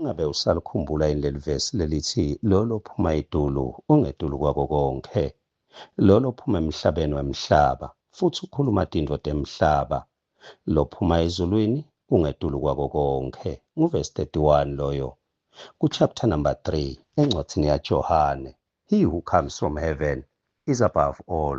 Ingabe usalikhumbula yini leli vesi lelithi, Lolo ophuma idulu, ungetulu kwako konke. Lolo ophuma emhlabeni wemhlaba, futhi ukhuluma tintfo temhlaba. Lophuma ezulwini, ungetulu kwako konke. Nguvesi 31 loyo. Ku chapter number 3, encwadzini yaJohane. He who comes from heaven is above all.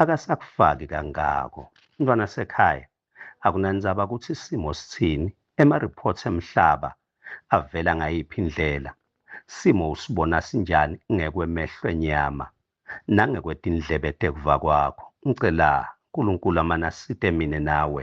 akasakufaki kangako mntwana sekhaya akunandzaba ukuthi isimo sithini ema-reports emhlaba avela ngayiphi indlela simo usibona sinjani ngekwemehlo enyama nangekwetindlebe tekuva kwakho ngicela nkulunkulu amanasite mine nawe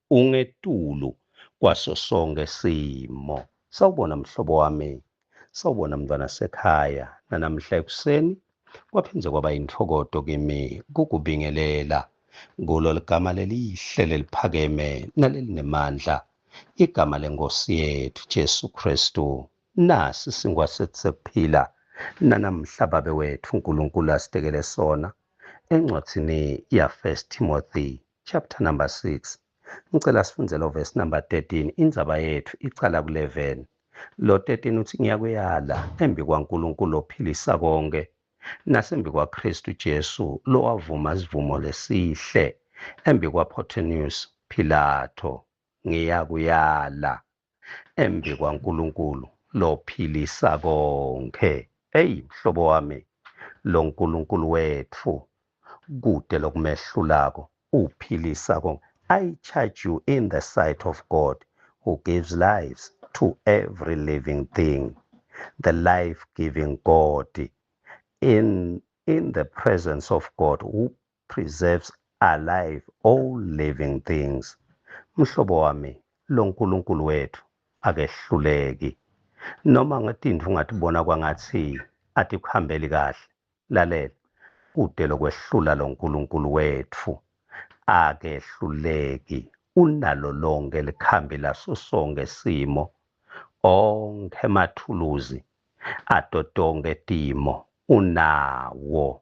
ungetulu kwaso sonke simo. Sawubona mhlobo wami, sawubona mntwana sekhaya. Nanamhla ekuseni kwaphinde kwaba yintokodo kimi kukubingelela kulo ligama lelihle leliphakeme nalelinemandla, igama lenkosi yethu Jesu Kristu. Nasi singwa sethu sekuphila nanamhla babe wethu uNkulunkulu asidekele sona encwadini ya-1 Timothy Chapter number 6. Ngicela sifunde lo verse number 13 indzaba yethu iqala ku 11. Lo 13 uthi ngiyakuyala embi kwaNkulunkulu ophilisa konke nasembi kwaKristu Jesu lowavuma isivumo lesihle embi kwaPhotonius Pilato ngiyakuyala embi kwaNkulunkulu lophilisa konke eyi mhlobo wami lo nkulunkulu wethu kude lokumehlulako uphilisa konke i charge you in the sight of god who gives lives to every living thing the life giving god in in the presence of god preserves alive all living things. Mhlobo wami, lo Nkulunkulu wethu akehluleki. Noma ngetindlu ungatibona kwangathi atikuhambeli kahle. Lalela, kude lokwehlula lo Nkulunkulu wethu. Akehluleki, unalo lonke likhambi laso sonke simo, onke mathuluzi, adotonke timo, unawo.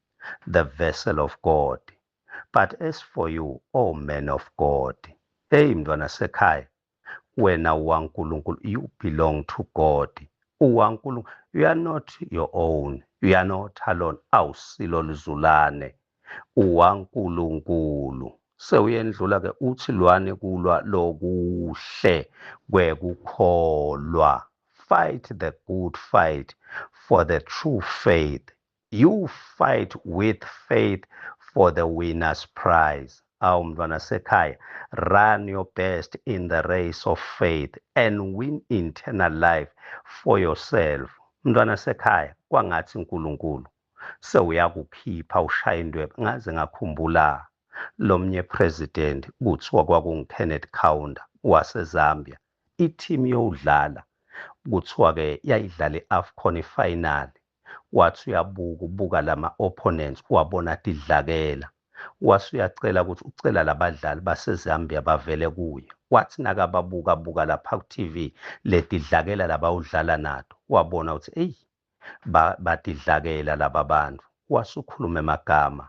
the vessel of God. But as for you, O oh man of God, hey mntwana sekhaya, wena uwaNkulunkulu, you belong to God. UwaNkulunkulu, you are not your own, you are not alone, awusilo lizulane, uwaNkulunkulu. Sewuyendlula ke uthi lwane kulwa lokuhle kwekukholwa. Fight the good fight for the true faith. you fight with faith for the winner's prize awu mntwana sekhaya run your best in the race of faith and win internal life for yourself mntwana sekhaya kwangathi uNkulunkulu sewuyakukhipha ushaya indwebe ngaze ngakhumbula lomnye president kuthiwa kwakunguKenneth Kaunda waseZambia i-team yowudlala kuthiwa-ke yayidlala i-afcon ifinali wathi uyabuka ubuka lama opponents uwabona athi dlakela wase uyacela ukuthi ucela labadlali baseZambia bavele kuye wathi nakababuka buka lapha ku TV ledidlakela labawudlala nato wabona ukuthi eyi badidlakela laba bantu wasukhuluma emagama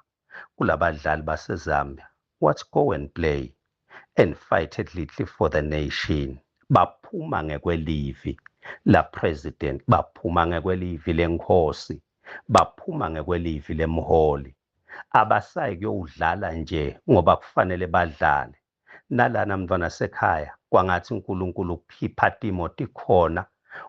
kulabadlali base Zambia what's go and play and fight at little for the nation baphuma ngekwelivi la president baphuma ngekwelivi lenkosi baphuma ngekwelivi lemholi abasayi kuyowudlala nje ngoba kufanele badlale nalana mntwana sekhaya kwangathi uNkulunkulu ukukhipha Timoti khona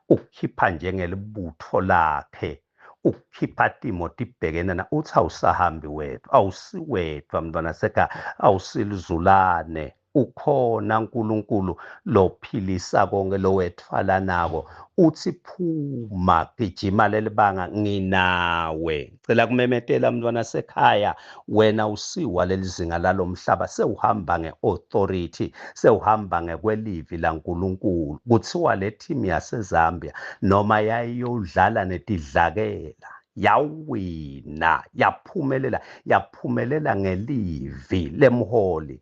ukukhipha njengelibutho lakhe ukukhipha Timoti ibhekene na uthi awusahambi wedwa awusiwedwa mntwana sekhaya awusilizulane ukhona uNkulunkulu lophilisa konke lowethwala nako uthi phuma gijima lelibanga nginawe Cela kumemetela mntwana sekhaya wena usiwa lelizinga lalomhlaba sewuhamba ngeauthority sewuhamba ngekwelivi laNkulunkulu kuthiwa le team yaseZambia noma yayiyodlala netidlakela yawina yaphumelela yaphumelela ngelivi lemholi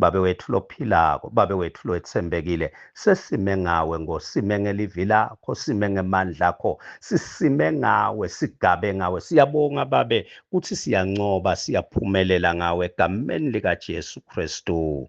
Babe wethu lophilako, Babe wethu lwetsembekile, sesime ngawe ngo, sime ngelivi lakho, sime ngemandla akho, sisime ngawe, sigabe ngawe. Siyabonga Babe kuthi siyancoba, siyaphumelela ngawe egameni likaJesu Kristu.